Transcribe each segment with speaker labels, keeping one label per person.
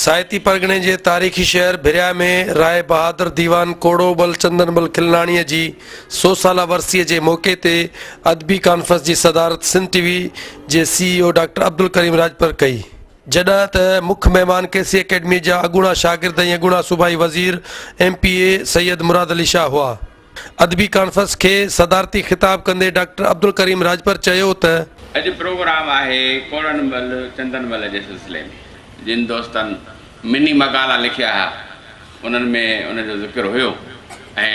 Speaker 1: سائتي پرڳڻي جي تاريخي شهر ڀريا ۾ راء بهادر ديوان ڪوڙو ٻل چندن ٻل کلناڻيء جي سو سالا ورسيء جي موقعي تي ادبي ڪانفرنس جي صدارت سنڌ ٽي وي جي C E O doctor Abdulkarim Rajpar ڪئي. جڏهن ته مک مهمان ڪي سي اڪيڊمي جا اڳوڻا شاگرد ۽ اڳوڻا صوبائي وزير M P A Syed Murad Ali Shah هئا. ادبي ڪانفرنس کي صدارتي خطاب ڪندي ڊاڪٽر عبدالڪريم راڄپر چيو ته. اڄ پروگرام
Speaker 2: آهي ڪوڙن مل چندن مل جي سلسلي ۾، جن دوستن مني مقالا لکيا ها انهن ۾ ان جو ذڪر هيو ۽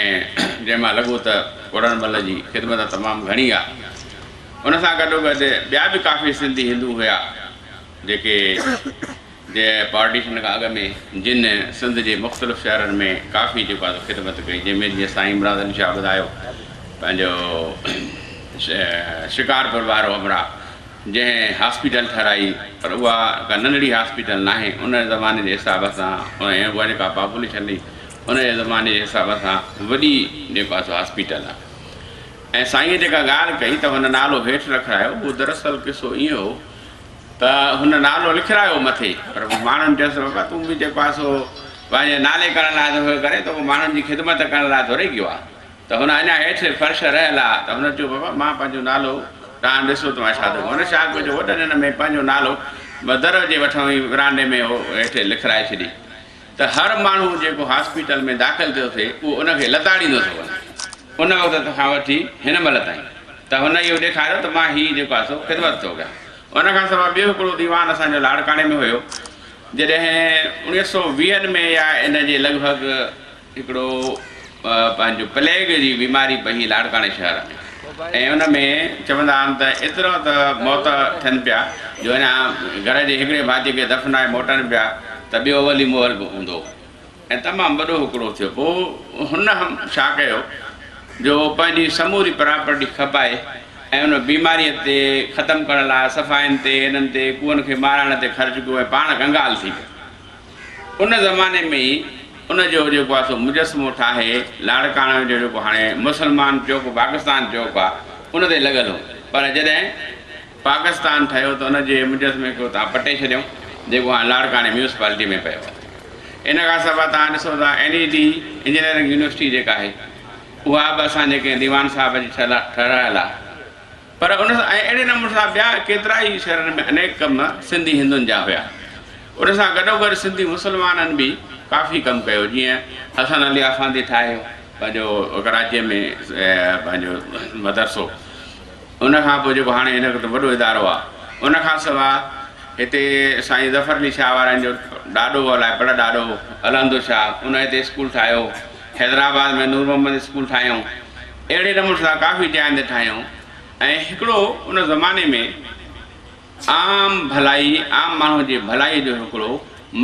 Speaker 2: جنهن مان لڳو ته ڪوڙن مل جي خدمت تمام گهڻي آ ان سان گڏوگڏ ٻيا به ڪافي سنڌي هندو هيا جيڪي جي پارٽيشن کان اڳ ۾ جن سنڌ جي مختلف شهرن ۾ ڪافي جيڪو آهي خدمت ڪئي جنهن ۾ جيئن سائين امراض علي شاهه ٻڌايو پنهنجو شڪارپور وارو امراهه جنهن هاسپيٽل ٺهرائي پر اها ڪا ننڍڙي هاسپيٽل ناهي ان زماني جي حساب سان ۽ اها جيڪا پاپوليشن هئي ان جي زماني جي حساب سان وڏي جيڪو آهي سو هاسپيٽل آهي ۽ سائينء جيڪا ڳالهه ڪئي ته هن نالو هيٺ رکرايو اهو دراصل قصو ائين هو ته هن نالو لکرايو مٿي پر ماڻهن چيس ته بابا تون به جيڪو آهي سو پنهنجي نالي ڪرڻ لاء ٿو ڪرين ته ماڻهن جي خدمت ڪرڻ لاء ٿوري ڪيو آهي ته هن اڃا هيٺ فرش رهيل آهي ته هن چيو بابا مان پنهنجو نالو توهان ڏسو ته مان ڇا ٿو هن شاخ ۾ جو وڏن هن ۾ پنهنجو نالو در جي وٺون ئي ورانڊي ۾ هو هيٺ لکرائي ڇڏي ته هر ماڻهو جيڪو هاسپيٽل ۾ داخل ٿيو ٿي اهو ان کي لتاڙيندو ٿو وڃي. ان وقت کان وٺي هن مهل تائين ته هن اهو ڏيکاريو ته مان هي جيڪو آهي سو خدمت ٿو ڪيان. ان کان سواء ٻيو هڪڙو ديوان اسان جو لاڙڪاڻي ۾ هيو جڏهن اڻيهه سؤ ويهن ۾ يا ان جي لڳ ڀڳ، هڪڙو پنهنجو پليگ جي بيماري پهي لاڙڪاڻي شهر ۾ ۽ ان ۾ چوندا آهن ته ايترا ته موت ٿين پيا جو هن گهر جي هڪڙي ڀاتي کي دفنائي موٽن پيا ته ٻيو ولي مهل به هوندو ۽ تمام وڏو هڪڙو ٿيو پوء هن ڇا ڪيو جو پنهنجي سموري پراپرٽي کپائي ۽ ان بيماري تي ختم ڪرڻ لاء صفائين تي هنن تي ڪوئن کي مارائڻ تي خرچ ڪيو ۽ پاڻ ڪنگال ٿي ويو. ان زماني ۾ ئي ان جو جيڪو آهي سو مجسمو ٺاهي لاڙڪاڻو جو جيڪو هاڻي مسلمان چوڪ پاڪستان چوڪ آهي ان تي لڳل هو پر جڏهن پاڪستان ٺهيو ته ان جي مجسمي کي اتان پٽي ڇڏيائون جيڪو هاڻي لاڙڪاڻي ميونسپالٽي ۾ پيو آهي ان کان سواء تان ڏسو ته N E D engineering university جيڪا آهي اها به اسان جي ڪنهن ديوان صاحب جي ٺهرايل آهي پر ان سان ۽ اهڙي نموني سان ٻيا ڪيترا ئي شهرن ۾ انيڪ ڪم سنڌي هندن جا هيا. ان سان گڏوگڏ سنڌي مسلمانن به ڪافي ڪم ڪيو جيئن حسن علي آفاندي ٺاهيو پنهنجو ڪراچيء ۾ پنهنجو مدرسو ان کان پوء جيڪو هاڻي هن وقت وڏو ادارو آهي ان کان سواء هتي سائين ظفر علي شاهه وارن جو ڏاڏو هو الائي بڙ ڏاڏو علهندو شاهه ان هتي اسڪول ٺاهيو حيدرآباد ۾ نور محمد اسڪول ٺاهيائون اهڙي نموني سان ڪافي جاين تي ٺاهيائون ۽ هڪڙو ان زماني ۾ عام ڀلائي عام ماڻهو جي ڀلائي جو هڪڙو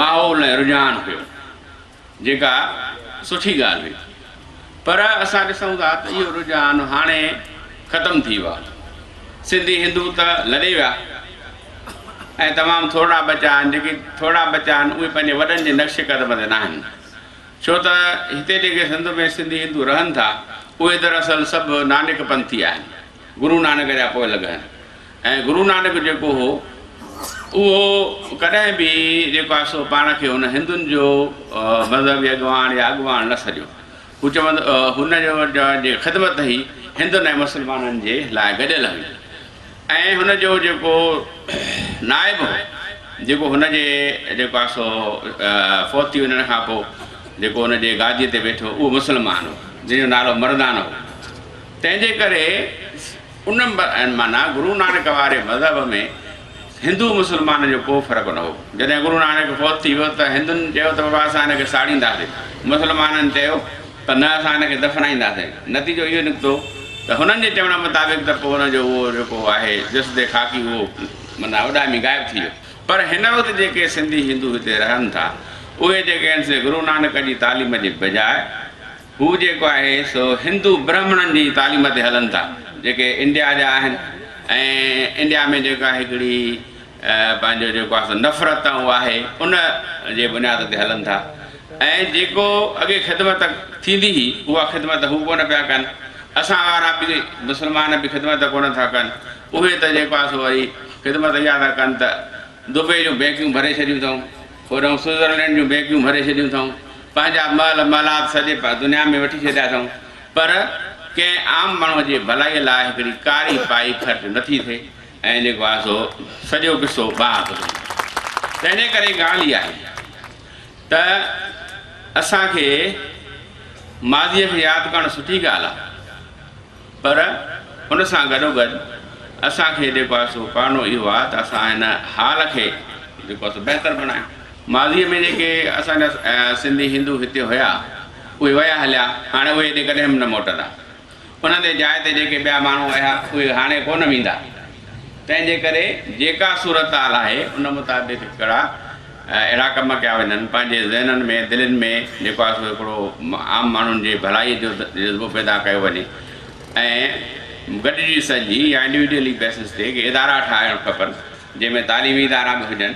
Speaker 2: ماحول ۽ رجحان هيو جيڪا سٺي ڳالهه هئي پر اسان ڏسون ٿا ته اهو رجحان هاڻي ختم ٿي ويو آهي سنڌي هندو ته لڏي ويا ۽ تمام ٿورڙا بچا آهن جيڪي ٿورڙا بچا آهن اهي پنهنجي وڏن جي نقش قدم تي ناهن ڇو ته هتي جيڪي سنڌ ۾ سنڌي هندو رهن ٿا، اهي دراصل سڀ نانڪ پنٿي آهن، گرو نانڪ جا پوئلڳ آهن ۽ گرو نانڪ جيڪو هو، اهو ڪڏهن به جيڪو آهي سو پاڻ کي هن هندن جو مذهبي اڳواڻ يا اڳواڻ نه سڏيو. هو چوند هن جي خدمت هي هندن ۽ مسلمانن جي لاء گڏيل هئي. ۽ هن جو جيڪو نائب هو جيڪو هن جي جيڪو آهي سو فوت ٿي وڃڻ کان پوء جيڪو هن جي گاديء تي ويٺو اهو مسلمان هو جنهن جو نالو مردان هو تنهن جي ڪري ان معنيٰ گرو نانڪ واري مذهب ۾ هندو مسلمان جو ڪو فرق نه هو جڏهن گرو نانڪ فوت ٿي ويو ته هندن چيو ته بابا اسان هن کي ساڙينداسين مسلمانن چيو ته نه اسان هن کي دفنائينداسين. نتيجو اهو نڪتو ته هنن جي چوڻ مطابق ته پوء هن جو اهو جيڪو آهي جسد خاڪي اهو معنيٰ اڏامي غائب ٿي ويو. پر هن وقت جيڪي سنڌي هندو هتي رهن ٿا اهي جيڪي آهن سي گرو نانڪ جي تعليم جي بجاء هو جيڪو آهي سو هندو برهمڻن جي تعليم تي هلن ٿا جيڪي انڊيا جا آهن ۽ انڊيا ۾ جيڪا هڪڙي پنهنجو جيڪو آهي سو نفرت ۽ اها آهي ان جي بنياد تي هلن ٿا ۽ جيڪو اڳي خدمت ٿيندي هئي اها خدمت هو ڪونه پيا ڪن اسان وارا به مسلمان به خدمت ڪونه ٿا ڪن اهي ته جيڪو آهي سو وري خدمت اها ٿا ڪن ته دبئي جون بينڪيون ڀري ڇڏيون اٿئون هوڏهون سوئزرلينڊ جون بينڪيون ڀري ڇڏيون اٿئون پنهنجا محل محلات سڄي دنيا ۾ وٺي ڇڏيا اٿئون پر ڪنهن عام ماڻهو جي ڀلائي لاء هڪڙي ڪاري پائي خرچ نٿي ٿئي ۽ جيڪو آهي سو سڄو قصو ٻاهر ٿو نڪري. تنهن ڪري ڳالهه اها آهي ته اسان کي ماضيء کي ياد ڪرڻ سٺي ڳالهه آهي پر ان سان گڏوگڏ اسان کي جيڪو آهي سو ڪرڻو اهو آهي ته اسان هن حال کي جيڪو آهي سو بهتر بڻايون. ماضيء ۾ جيڪي اسان جا سنڌي هندو هتي هيا اهي ويا هليا هاڻي اهي ڪڏهن به نه موٽندا. ان تي جاء تي جيڪي ٻيا ماڻهو اها اهي هاڻي ڪونه ويندا تنهن جي ڪري جيڪا صورتحال آهي ان مطابق ڪهڙا اهڙا ڪم ڪيا وڃن پنهنجي ذهنن ۾ دلين ۾ جيڪو آهي سو هڪڙو عام ماڻهن جي ڀلائي جو جذبو پيدا ڪيو وڃي ۽ گڏجي سڄي يا انڊيوڊيلي بيسز تي ادارا ٺاهڻ کپن جنهن ۾ تعليمي ادارا به هجن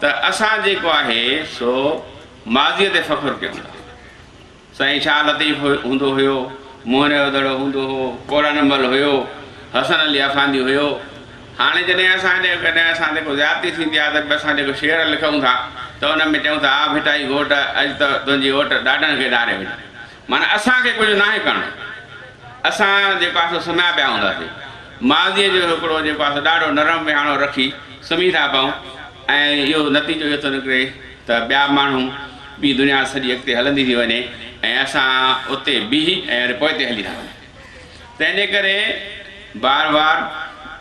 Speaker 2: ته اسان جيڪو آهي سو ماضيء تي فخر ڪيون ٿا. سائين شاهه لطيف هوندو هيو، موهن جو دڙو هوندو هو، ڪوڙن مل هيو، حسن علي آفاندي هيو. هاڻي جڏهن اسان جي ڪڏهن اسان تي ڪو زيادتي ٿيندي آهي ته به اسان جيڪو شعر لکون ٿا ته ان ۾ چئون ٿا، آ ڀٽائي گهوٽ اڄ ته تنهنجي اوٽ ڏاڍن کي ڏاري وڃي. معنيٰ اسان کي ڪجهه ناهي ڪرڻو. اسان جيڪو آهي سو سمهيا پيا هونداسين. ماضيء جو هڪڙو جيڪو آهي سو ڏاڍو نرم وهاڻو رکي سمهي رهيا پئون ۽ اهو نتيجو اهو ٿو نڪري ته ٻيا ماڻهو ٻي دنيا سڄي اڳتي هلندي ٿي وڃي ۽ اسان اتي بيهي ۽ وري پوئتي هلي ٿا وڃون. تنهنجي ڪري بار بار.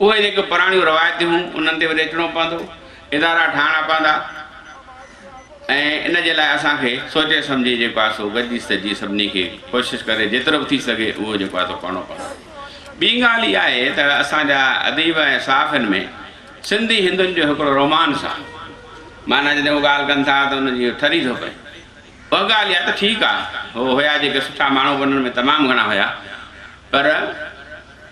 Speaker 2: اهي جيڪي پراڻيون روايتون هون انهن تي وري اچڻو پوندو، ادارا ٺاهڻا پوندا ۽ ان جي لاء اسان کي سوچي سمجهي جيڪو آهي سو گڏجي سڏجي سڀني کي ڪوشش ڪري جيترو به ٿي سگهي اهو جيڪو آهي سو ڪرڻو پوندو. ٻي ڳالهه اها آهي ته اسان جا اديب ۽ صحافين ۾ سنڌي هندن جو هڪڙو رومانس آهي معنيٰ جڏهن هو ڳالهه ڪن ٿا ته انهن جي ٺري ٿو پئي اها ڳالهه اها ته ٺيڪ آهي هو هيا جيڪي سٺا ماڻهو به انهن ۾ تمام گهڻا هيا پر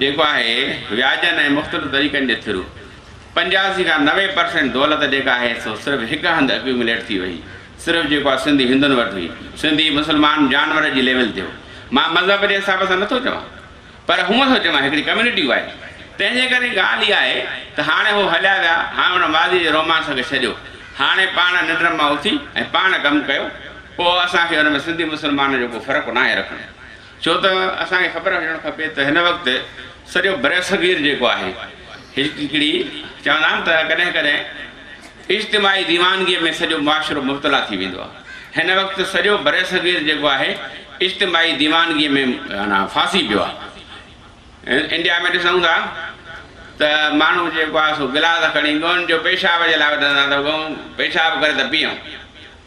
Speaker 2: جيڪو آهي وياجن ۽ مختلف طريقن جي ٿرو پنجاسي کان نوي پرسينٽ دولت جيڪا آهي سو صرف هڪ هنڌ اڪيومليٽ ٿي وئي صرف جيڪو آهي سنڌي هندن وٽ هئي سنڌي مسلمان جانور جي ليول تي هو مان مذهب جي حساب سان نٿو چوان پر هونء ٿو چوان هڪڙي ڪميونٽي وائيز تنهن جي ڪري ڳالهه اها آهي ته هاڻي هو هليا ويا هاڻي ان ماضي جي رومانس کي ڇڏيو هاڻي پاڻ ننڊ مان اٿي ۽ پاڻ ڪم ڪيو پوء اسان کي ان ۾ سنڌي مسلمان جو ڪو فرق ناهي رکڻو. ڇو ته اسان کي خبر هجڻ کپي ته هن وقت سڄو برصغير جيڪو آهي هڪڙي چوندا آهن ته ڪڏهن ڪڏهن اجتماعي ديوانگيء ۾ سڄو معاشرو مبتلا ٿي ويندو آهي هن وقت سڄو برصغير جيڪو آهي اجتماعي ديوانگيء ۾ معنيٰ ڦاسي پيو آهي انڊيا ۾ ڏسون ٿا ته ماڻهو جيڪو آهي سو گلاس کڻي ڳئون جو پيشاب جي لاء وڌندا ته ڳئون پيشاب ڪري ته پيئون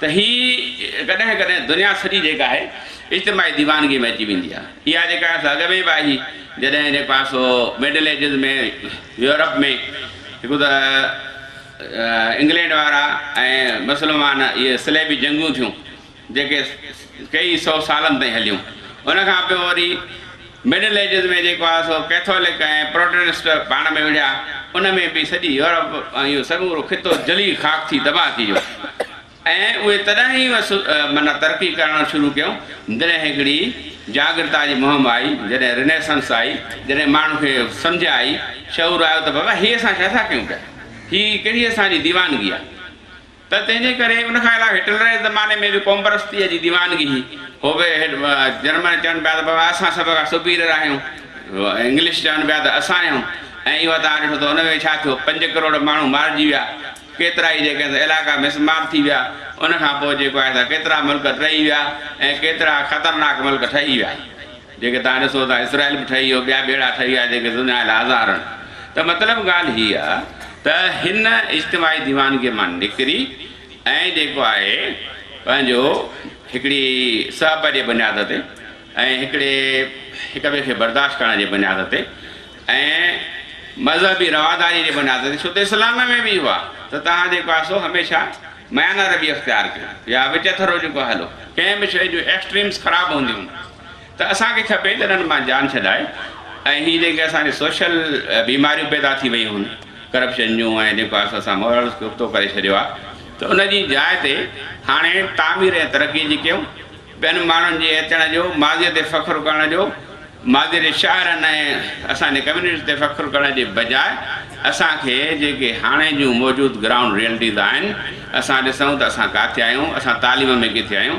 Speaker 2: ته هي ڪڏهن ڪڏهن دنيا سڄي جيڪا آهي اجتماعي ديوانگي ۾ اچي ويندي آهي. اها جيڪا آهي سا اڳ ۾ به آهي هئي جڏهن جيڪو آهي سو مڊل ايجز ۾ يورپ ۾ هڪ ته انگلينڊ وارا ۽ مسلمان اهي صليبي جنگون ٿيون جيڪي ڪيئي سئو سالن تائين هليون ان کان پوء وري مڊل ايجز ۾ جيڪو آهي سو ڪيٿولڪ ۽ پروٽينسٽ پاڻ ۾ وڙهيا، ان ۾ به سڄي يورپ ۽ اهو سمورو خطو جلي خاڪ ٿي تباهه ٿي ويو ۽ اهي تڏهن ئي وس معنيٰ ترقي ڪرڻ شروع ڪيون جڏهن هڪڙي جاڳرتا جي مهم آئي، جڏهن رنيسنس آئي، جڏهن ماڻهن کي سمجهه آئي، شعور آيو ته بابا هي اسان ڇا ٿا ڪيون پيا، هي ڪهڙي اسان جي ديوانگي آهي. ته تنهن جي ڪري ان کان علاوه هٽلر جي زماني ۾ به قومپرستيء جي ديوانگي هئي. هو به جرمن چون پيا ته بابا اسان سڀ کان سپيريئر آهيون، انگلش چون پيا ته اسان آهيون ۽ اهو توهان ڏٺو ته ان ۾ ڇا ٿيو، پنج ڪروڙ ماڻهو مارجي ويا، ڪيترائي جيڪي آهن سا علائقا مس مار ٿي ويا، ان کان پوء جيڪو آهي سا ڪيترا ملڪ ٽهي ويا ۽ ڪيترا خطرناڪ ملڪ ٺهي ويا. جيڪي تان ڏسو ٿا اسرائيل به ٺهي ويو ٻيا ٻيڙا ٺهي ويا جيڪي سڃايل هزارن ته مطلب ڳالهه هي آ ته هن اجتماعي ديوانگي مان نڪري ۽ جيڪو آهي پنهنجو هڪڙي صحبه جي بنياد تي ۽ هڪڙي هڪ ٻئي کي برداشت ڪرڻ جي بنياد تي ۽ مذهبي رواداري جي بنياد تي ڇو ته اسلام ۾ به اهو آ ته تهان جيڪو آ سو هميشه ميانه روي اختيار ڪيو يا وچ ٿرو جيڪو هلو ڪنهن به شئي جون ايڪسٽريمز خراب هونديون ته اسان کي کپي ته انهن مان جان ڇڏائي ۽ هي جيڪي اسان جي سوشل بيماريون پيدا ٿي ويون هن ڪرپشن جون ۽ جيڪو آس پاس سان ماحول کي ابتو ڪري ڇڏيو آ ته ان جي جاء تي هاڻي تعمير ۽ ترقي جي ڪيون ٻين ماڻهن جي اچڻ جو ماضي تي فخر ڪرڻ جو ماضي جي شاعرن ۽ اسان جي ڪميونٽي تي فخر ڪرڻ جي بجاء اسان کي جيڪي هاڻي جون موجود گرائونڊ ريئلٽيز آهن اسان ڏسون ته اسان ڪاٿي آهيون اسان تعليم ۾ ڪٿي آهيون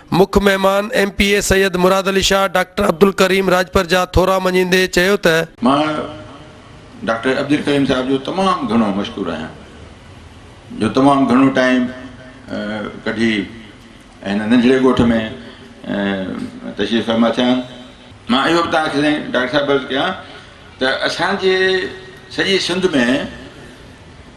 Speaker 2: مک مهمان
Speaker 1: M P A Syed Murad Ali Shah doctor Abdulkarim Rajpar جا ٿورا مڃيندي چيو ته. مان
Speaker 3: ڊاڪٽر عبدالڪريم صاحب جو تمام گهڻو مشڪور آهيان جو تمام گهڻو ٽائيم ڪڍي هن ننڍڙي ڳوٺ ۾ تشريف فرما ٿيا آهن. مان اهو به توهان کي سائين ڊاڪٽر صاحب عرض ڪيان ته اسان جي سڄي سنڌ ۾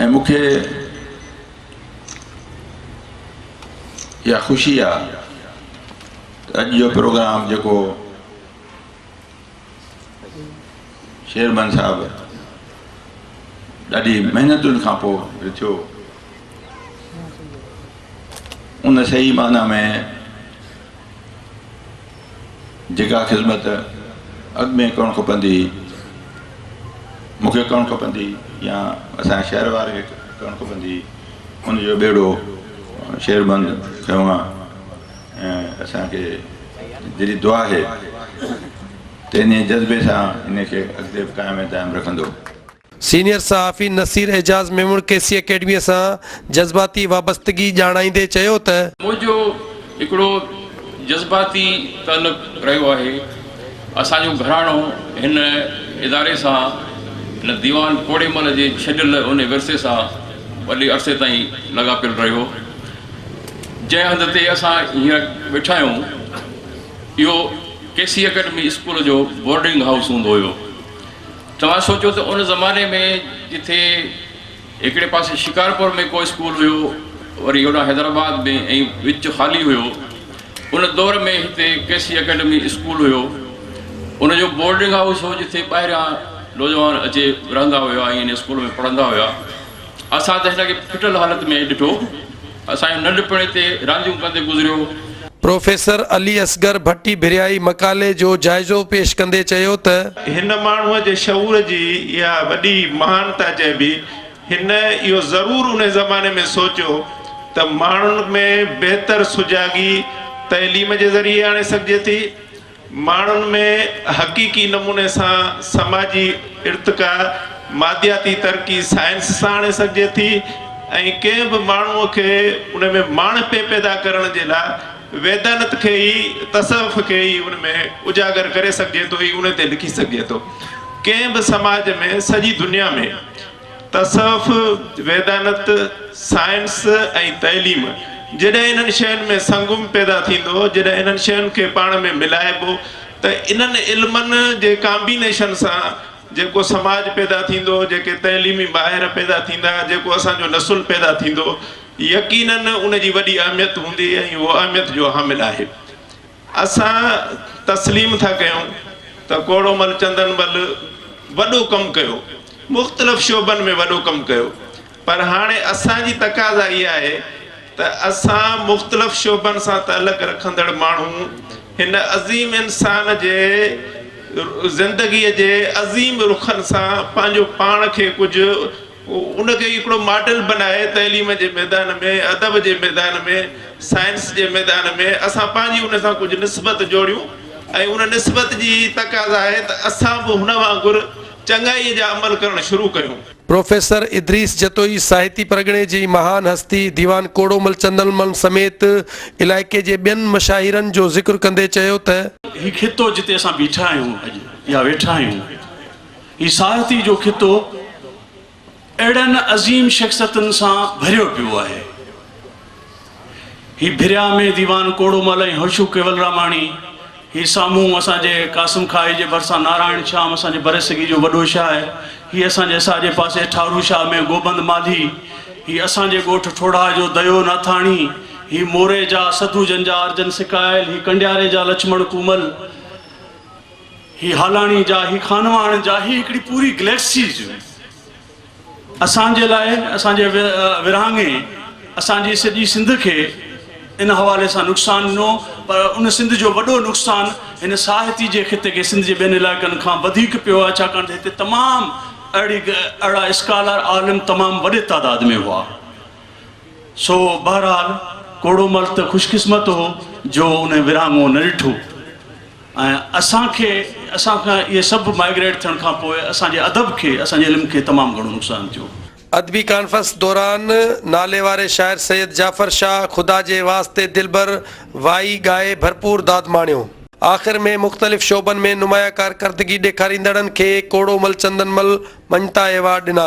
Speaker 3: ۽ مون کي اها خوشي آ ته اڄ جو پروگرام جيڪو شيرمن صاحب ڏاڍي محنتن کان پوء رٿيو ان صحيح معنيٰ ۾ جيڪا خذمت اڳ ۾ ڪرڻ کپندي هئي، مون کي ڪرڻ کپندي هئي يا اسان جي شهر وارن کي ڪرڻ کپندي هئي، ان جو ٻيڙو شهر بند کنيو آ ۽ اسان کي دلي دعا آهي ته انهيء جذبي سان ان کي اڳتي به قائم ۽ دائم رکندو. سينيئر
Speaker 1: صحافي نصير اعجاز ميمڻ ڪي سي اڪيڊميء سان جذباتي وابستگي ڄاڻائيندي چيو ته. منهنجو هڪڙو
Speaker 4: جذباتي تعلق رهيو آهي، اسان جو گهراڻو هن اداري سان، هن ديوان پوڙهي مل جي ڇڏيل انهي ورثي سان وڏي عرصي تائين لاڳاپيل رهيو، جنهن هنڌ تي اسان هينئر ويٺا آهيون، اهو ڪي سي اڪيڊمي اسڪول جو بورڊنگ هائوس هوندو هيو. توهان سوچو ته ان زماني ۾ جتي هڪڙي پاسي شڪارپور ۾ ڪو اسڪول هيو وري هوڏانهن حيدرآباد ۾ ۽ وچ خالي هيو. ان دور ۾ هتي ڪيسي اڪيڊمي اسڪول هيو. ان جو بورڊنگ هائوس هو جتي ٻاهريان نوجوان اچي رهندا هيا ۽ ان اسڪول ۾ پڙهندا هيا. اسان ته هن کي ڦٽل حالت ۾ ڏٺو. اسان جي ننڍپڻ اتي رانديون ڪندي گذريو. پروفيسر
Speaker 1: علي اصغر ڀٽي ڀريائي مقالي جو جائزو پيش ڪندي چيو ته. هن ماڻهوء جي
Speaker 5: شعور جي اها وڏي مهانتا چئبي. هن اهو ضرور انهي زماني ۾ سوچيو ته ماڻهن ۾ بهتر سجاڳي تعليم جي ذريعي آڻي سگهجي ٿي. ماڻهن ۾ حقيقي نموني سان سماجي ارتقا، مادياتي ترقي سائنس سان آڻي سگهجي ٿي ۽ ڪنهن به ماڻهوء کي ان ۾ ماڻهپي پيدا ڪرڻ جي لاء ويدانت کي ئي، تصوف کي ئي ان ۾ اجاگر ڪري سگهجي ٿو ۽ ان تي لکي سگهجي ٿو. ڪنهن به سماج ۾ سڄي دنيا ۾. تصوف، ويدانت، سائنس ۽ تعليم، جڏهن انهن شين ۾ سنگم پيدا ٿيندو، جڏهن انهن شين کي پاڻ ۾ ملائبو ته انهن علمن جي ڪامبينيشن سان جيڪو سماج پيدا ٿيندو، جيڪي تعليمي ماهر پيدا ٿيندا، جيڪو اسان جو نسل پيدا ٿيندو، يقينن ان جي وڏي اهميت هوندي ۽ اهو اهميت جو حامل آهي. اسان تسليم ٿا ڪيون ته ڪوڙومل چندن بل وڏو ڪم ڪيو، مختلف شعبن ۾ وڏو ڪم ڪيو پر هاڻي اسان جي تقاضا اها آهي ته اسان مختلف شعبن سان تعلق رکندڙ ماڻهو هن عظيم انسان جي زندگي جي عظيم رخن سان پنهنجو پاڻ کي ڪجهه ان کي هڪڙو ماڊل بنائي تعليم جي ميدان ۾ ادب جي ميدان ۾ سائنس جي ميدان ۾ اسان پنهنجي ان سان ڪجهه نسبت جوڙيون ۽ ان نسبت جي تقاضا آهي ته اسان به هن وانگر چڱائي جا عمل ڪرڻ شروع ڪيون. پروفيسر
Speaker 1: ادريس جتوئي ساهتي پرڳڻي جي مهان هستي ديوان ڪوڙومل چندرمل سميت علائقي جي ٻين مشاهيرن جو ذڪر ڪندي چيو ته. هي خطو جتي
Speaker 6: اسان بيٺا آهيون اڄ يا ويٺا آهيون. هي ساهتي جو خطو اهڙن عظيم شخصيتن سان ڀريو پيو آهي. هي ڀريا ۾ ديوان ڪوڙومل ۽ هوشو ڪيولراماڻي، هي سامهون اسان جي قاسم کاهي جي ڀرسان نارائڻ شيام اسان جي برصغير جو وڏو شاعر، هي اسان جي ساڄي پاسي ٺارو شاهه ۾ گوبند مالهي، هي اسان جي ڳوٺ ٺوڙها جو ديو ناٿاڻي، هي موري جا سڌو جن جا ارجن سڪايل، هي ڪنڊياري جا لڇمڻ ڪومل. هي هالاڻي جا، هي خانواڻ جا، هي هڪڙي پوري گليڪسيز هئي. اسان جي لاء، اسان جي ورهاڱي اسان جي سڄي سنڌ کي ان حوالي سان نقصان ڏنو، پر ان سنڌ جو وڏو نقصان هن ساهتي جي خطي کي سنڌ جي ٻين علائقن کان وڌيڪ پيو آهي، ڇاڪاڻ ته هتي تمام اهڙي اهڙا اسڪالر، عالم تمام وڏي تعداد ۾ هئا. سو بهرحال ڪوڙومل ته خوشقسمت هو جو ان ورهاڱو نه ڏٺو. ۽ اسان کي اسان کان اهي سڀ مائگريٽ ٿيڻ کان پوء اسان جي ادب کي اسان جي علم کي تمام گهڻو نقصان ٿيو. ادبي ڪانفرنس
Speaker 1: دوران ناليواري شاعر سيد جعفر شاهه خدا جي واسطي دلبر وائي ڳائي ڀرپور داد ماڻيو. آخر ۾ مختلف شعبن ۾ نمايان ڪارڪردگي ڏيکاريندڙن کي ڪوڙومل چندن مل مڃتا ايوارڊ ڏنا.